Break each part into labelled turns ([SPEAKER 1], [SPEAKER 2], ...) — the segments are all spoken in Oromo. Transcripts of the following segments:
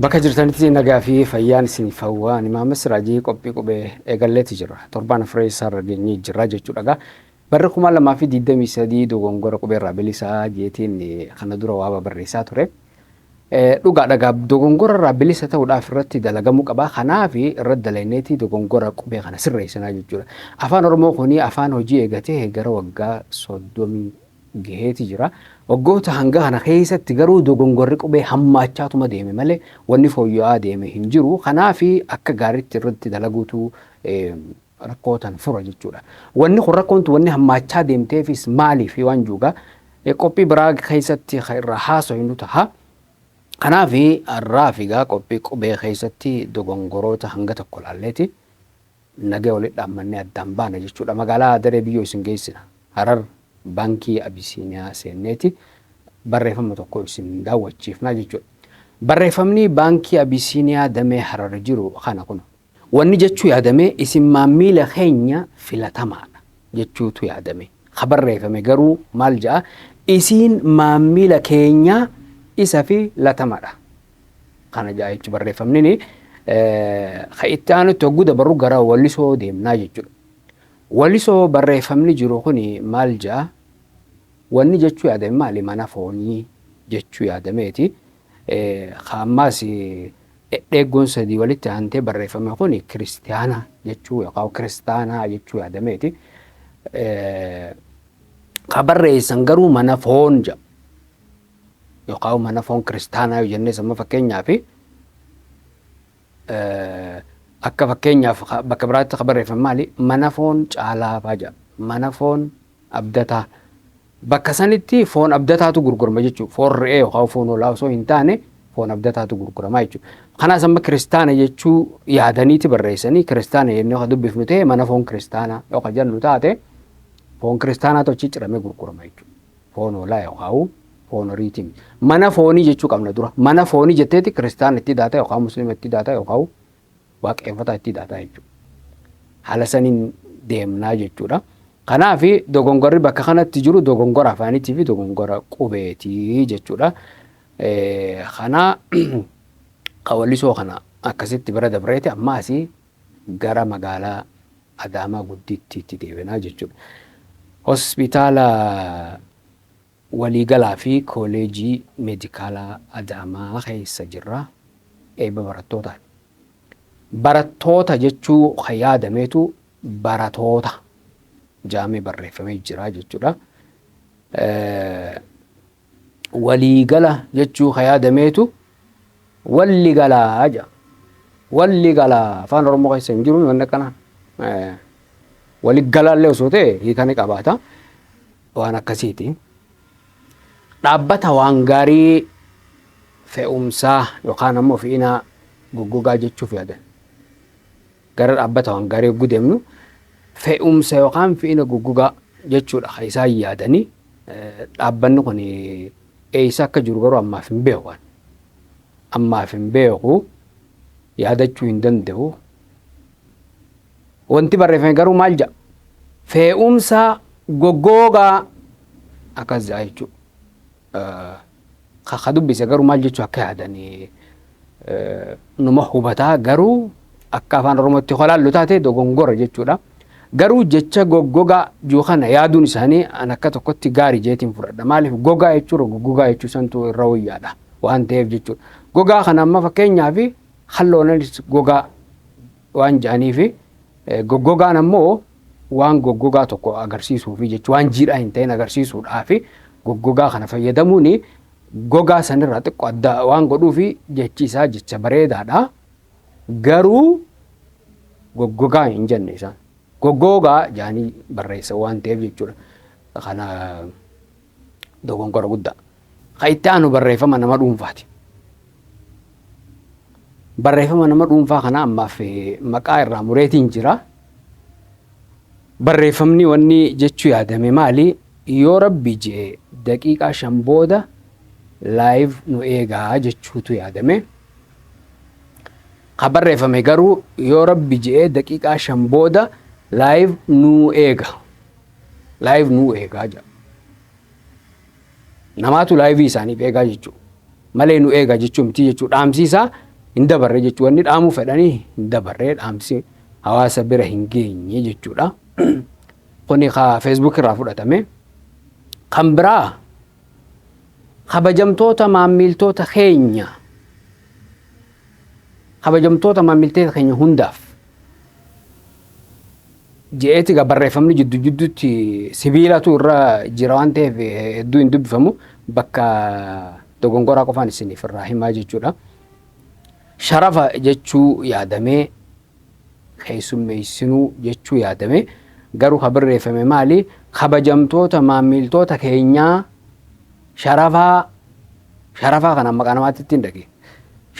[SPEAKER 1] Bakka jirtanitti nagaa fi fayyaan isiniif hawwa. Ani Maammas Siraajii qophii qubee eegalleeti jira. Torbaan afree isaarra geenyee jirra jechuudha egaa. Barri kuma lamaa fi digdamii sadii dogongora qubeerraa bilisaa jeetiin kana dura waaba barreessaa ture. Dhugaa dha gaa dogongora irraa bilisa ta'uudhaaf irratti dalagamuu qaba. Kanaaf irratti dalayneeti dogongora qubee kana sirreessinaa jechuudha. Afaan Oromoo kuni afaan hojii eegatee gara waggaa soddomii gaheeti jira. Waggoota hanga kana keessatti garuu dogongorri qubee hammaachaatuma deeme malee wanni fooyya'aa deeme hin jiru. Kanaaf akka gaariitti irratti dalaguutu rakkoo tan fura jechuudha. Wanni kun rakkoon tun wanni hammaachaa deemteefis maaliif waan juuga qophii biraa keessatti kan irraa haasoynu taha. Kanaaf har'aa fi gaa qophii qubee keessatti dogongoroota hanga tokko laalleeti nagee walitti dhaammannee addaan baana jechuudha. Magaalaa daree biyyoo isin geessina. Harar baankii Abisiiniyaa seenneeti barreeffama tokko isin daawwachiifnaa jechuudha. Barreeffamni baankii Abisiiniyaa damee Harar jiru kana kun Wanni jechuu yaadame isin maammiila keenya filatamaadha jechuutu yaadame. Ka barreefame garuu maal ja'a isiin maammiila keenya isa fi latamadha. Kana ja'a jechu barreefamnini. Ka itti aanutti hogguu dabarru gara walisoo deemnaa jechudha. Walisoo barreefamni jiru kuni maal ja'a wanni jechuu yaadame maali mana foonii jechuu yaadameeti. Ka ammaas Dhedheeggoon sadii walitti aantee barreeffame kun Kiristiyaana jechuu yookaan Kiristaanaa jechuu yaadameeti. Ka barreessan garuu mana foon jedha. Yookaan mana foon kiristaanaa yoo jennes amma fakkeenyaaf akka fakkeenyaaf bakka biraatti ka barreeffame maali? Mana foon caalaa faa jedha. Mana foon Abdataa. Bakka sanitti foon abdataatu gurgurama jechuudha. Foon re'ee yookaan foon hoolaa osoo hin taane foon abdataatu gurgurama jechuudha. Kanaas amma kiristaana jechuu yaadaniiti barreessanii kiristaana jennee kan dubbifnu ta'e mana foon kiristaanaa yoo kan jennu taate foon kiristaanaatu achi ciramee gurgurama jechuudha. Foon hoolaa yookaan foon horiitiin. Mana foonii jechuu qabna dura. Mana foonii jetteeti kiristaana itti daata yookaan musliima itti daata yookaan waaqeeffataa itti hidhaataa jechuudha. Haala saniin deemnaa jechuudha. Kanaaf dogongorri bakka kanatti jiru dogongora afaaniitii fi dogongora qubeetii jechuudha. Kana qawallisoo kana akkasitti bira dabreeti amma asii gara magaalaa Adaamaa guddittiitti deebinaa jechuudha. Hospitaala Waliigalaa fi Kooleejii Meedikaalaa Adaamaa keessa jirra. Eebba barattootaati. Barattoota jechuu kan yaadameetu baratoota jaamee barreeffamee jira jechuudha. Waliigala jechuu kan yaadameetu walli galaa jedha. Walli galaa afaan Oromoo keessa hin jiru wanni akkana. Waligalaallee osoo ta'e hiika ni qabaata. waan akkasiiti. Dhaabbata waan gaarii fe'umsaa yookaan ammoo fe'inaa goggogaa jechuuf yaadan. Gara dhaabbata waan gaarii yogguu deemnu fe'umsa yookaan fe'ina goggogaa jechuudha kan isaan yaadanii dhaabbanni kun eessa akka jiru garuu ammaaf hin beeku ani. Ammaaf hin beeku yaadachuu hin danda'u. Wanti barreeffame garuu maal jedha? Fee'umsa goggoogaa akkas jedha jechuudha. Ka dubbise garuu maal jechuu akka yaadan numa hubataa garuu akka afaan Oromootti holaallu taate dogongora jechuudha. Garuu jecha goggogaa juu kana yaaduun isaanii an akka tokkotti gaarii jeetiin fudhadha. Maaliif gogaa jechuudha goggogaa jechuu santu irra wayyaadha waan ta'eef jechuudha. Gogaa kana amma fakkeenyaaf Halloonanis gogaa waan ja'aniifi goggogaan ammoo waan goggogaa tokko agarsiisuufi jechuudha. Waan jiidhaa hin ta'in agarsiisuudhaafi goggogaa kana fayyadamuun gogaa sanirraa xiqqoo adda waan godhuufi jechi isaa jecha bareedaadha. Garuu goggogaa hin jenne isaan. Goggoogaa ja'anii barreessan waan ta'eef jechuudha. Kana Dogonkora guddaa. Ka itti aanu barreeffama nama dhuunfaati. Barreeffama nama dhuunfaa kana ammaaf eh, maqaa irraa mureetiin jira. Barreeffamni wanni jechuu yaadame maali? Yoo rabbi jee daqiiqaa shan booda laayiv nu eegaa jechuutu yaadame. Ka barreeffame garuu yoo rabbi jee daqiiqaa shan booda laayiv nu eega. live nuu eegaa jedha. Namaatu live isaaniif eegaa jechuu malee nu eegaa jechuu miti jechuu dhaamsiisaa hin dabarre jechuu wanni dhaamuu fedhanii hin dabarre dhaamsi hawaasa bira hin geenye jechuudha. Kuni ka Facebook irraa fudhatame. Kan biraa kabajamtoota maammiiltoota keenya kabajamtoota maammiiltoota keenya hundaaf Je'eeti egaa barreeffamni jiddu jidduutti sibiilatu irra jira waan ta'eef hedduu hin dubbifamu bakka dogongoraa qofaan isiniif irraa himaa jechuudha. Sharafa jechuu yaadamee keessummeessinuu jechuu yaadamee garuu ka barreeffame maali kabajamtoota maammiiltoota keenyaa sharafaa sharafaa kana maqaa namaatti ittiin dhage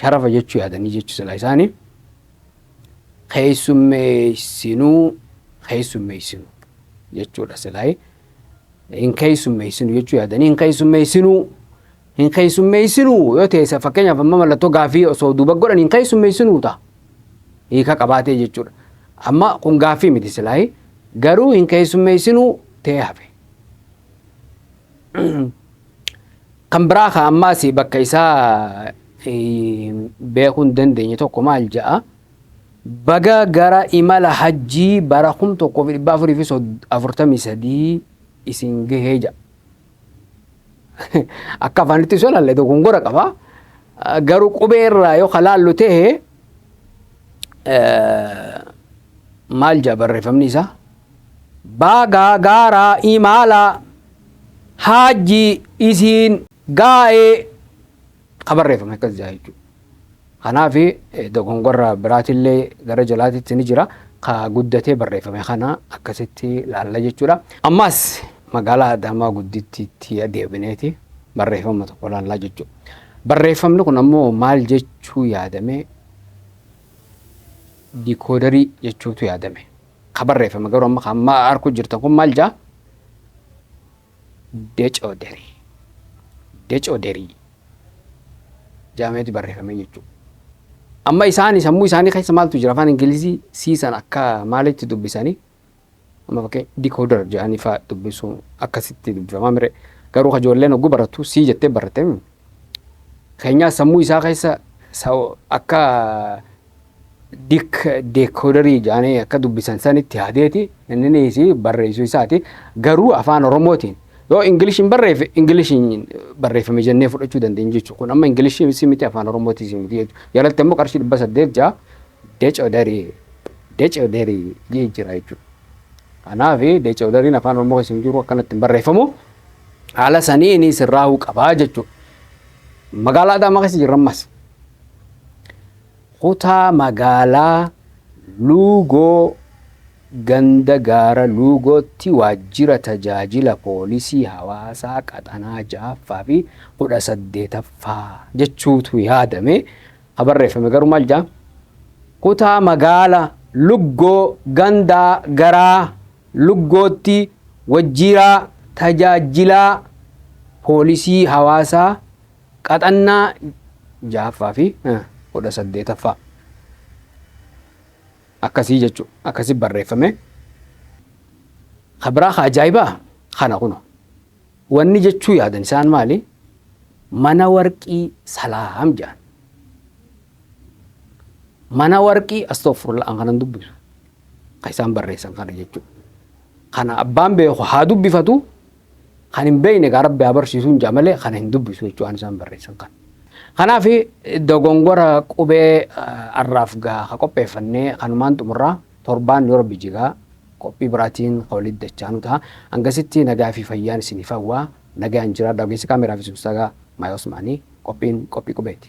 [SPEAKER 1] sharafa jechuu yaadanii jechuu silaa isaanii keessummeessinu keessummeessinu jechuudha silaayee hin keessummeessinu jechuu yaadanii hin keessummeessinu hin keessummeessinu yoo ta'e fakkeenyaaf amma mallattoo gaaffii osoo duuba godhan hin keessummeessinu ta'a hiika qabaatee jechuudha amma kun gaaffii miti silaayee garuu hin keessummeessinu ta'ee hafe. Kan biraa kan ammaas bakka isaa beekuu hin dandeenye tokko maal ja'a? Baga gara imala hajjii bara 1443 isin gahee ja'a. Akka afaanitti osoo ilaalle dogongora qaba. Garuu qubee irraa yoo kalaallu ta'e maal ja'a barreeffamni isaa? Baaga gaara imaala haajji isiin gaa'e ka barreeffame akkas jira jechuudha. Kanaaf dogongorra biraatillee gara jalaatitti ni jira. Ka guddatee barreeffame kana akkasitti laalla jechuudha. Ammaas magaalaa Adaamaa guddittiitti deebineeti barreeffama tokko laallaa jechuudha. Barreeffamni kun ammoo maal jechuu yaadame dikoodarii jechuutu yaadame. Ka barreeffame garuu amma kan amma arkuu jirtan kun maal jaa? Decoo derii. Decoo derii. Jaameeti barreeffame jechuudha. Amma isaani sammuu isaanii keessa maaltu jira afaan Ingilizii siisan akka maalitti dubbisanii amma fakkee dikoodar jedhanii faa dubbisuu akkasitti dubbifamaa mire garuu ka ijoolleen hogguu barattu sii jettee baratte keenyaa sammuu isaa keessa sa- akka Dik deekodarii jaanii akka dubbisan sanitti haadeeti inniniis barreessu isaati garuu afaan oromootiin yoo ingilishiin barreeffe ingilishiin barreeffame jennee fudhachuu dandeenya jechuudha kun amma ingilishii si miti afaan oromootiis miti jechuudha jalatti ammoo qarshii dhibba saddeet ja'a decodarii decodarii jee jira jechuudha kanaaf decodariin afaan oromoo keessa hin jiru akkanatti hin barreeffamu haala saniin sirraa'uu qabaa jechuudha magaalaa adaamaa keessa jirra ammas. Kutaa magaalaa Luugoo ganda Gaara Luugootti waajjira tajaajila poolisii hawaasaa qaxanaa 6ffaa fi 18ffaa jechuutu yaadame ka barreeffame garuu maal jedha? Kutaa magaala Luggoo gandaa garaa Luggootti wajjiiraa tajaajjilaa poolisii hawaasaa Qaxannaa 6ffaa fi 18ffaa akkasii jechu akkasi barreeffame. Ka biraa ka ajaa'ibaa kana kuno. Wanni jechuu yaadan isaan maali? Mana warqii salaam jedhan. Mana warqii astoofurla an kanan dubbisu. Ka isaan barreessan kana jechuu. Kana abbaan beeku haa dubbifatu. Kan hin beekne egaa rabbi haa barsiisuun ja'a malee kana hin dubbisu jechuudha waan isaan barreessan kan. Kanaaf dogongora qubee arraaf gaa ha qopheeffannee kanumaan xumurraa torbaan yoo rabbi jigaa qophii biraatiin ka walitti dachaanu ta'a. Hangasitti nagaa fi fayyaan isiniif hawwa nagaan jiraadha ogeessi kaameeraa fi sursaagaa Maayoo Osmaanii qophiin qophii qubeeti.